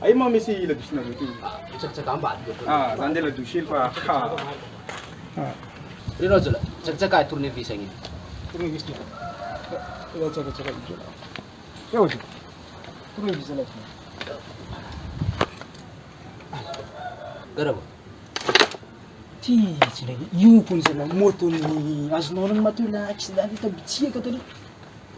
Ay ma misy la douche na douche. Tsaka tsaka amba. Ah, zan de la douche fa ha. Ah. Reno zola. Tsaka tsaka tourner vis agny. Tourner vis. Tsaka tsaka tsaka. Yo. Tourner vis la. Garabo. Ti tsy ndray. Io ko zala moto ny azonao ny maty la accident ta bitsiaka taloha.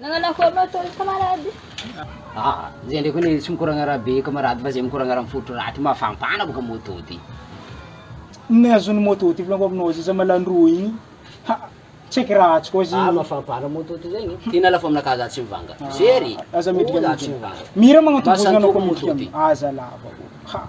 Nagnano akory moa toy camarade? Ah! Zay ndray koa anie tsy mikoragna raha be camarade fa zay mikoragna raha mifotry raty mafampana boka moto ty. Ny azon'ny moto ty filanko aminao zay zamalandroa igny ha tsy haiko raha tsy koa zay. Ah mafampana moto ty zegny e. Tena lafo aminakahy za tsy mivanga. Very! Aza midika midika. Mira magnantobozana anao koa midika aza lava ô. Ha.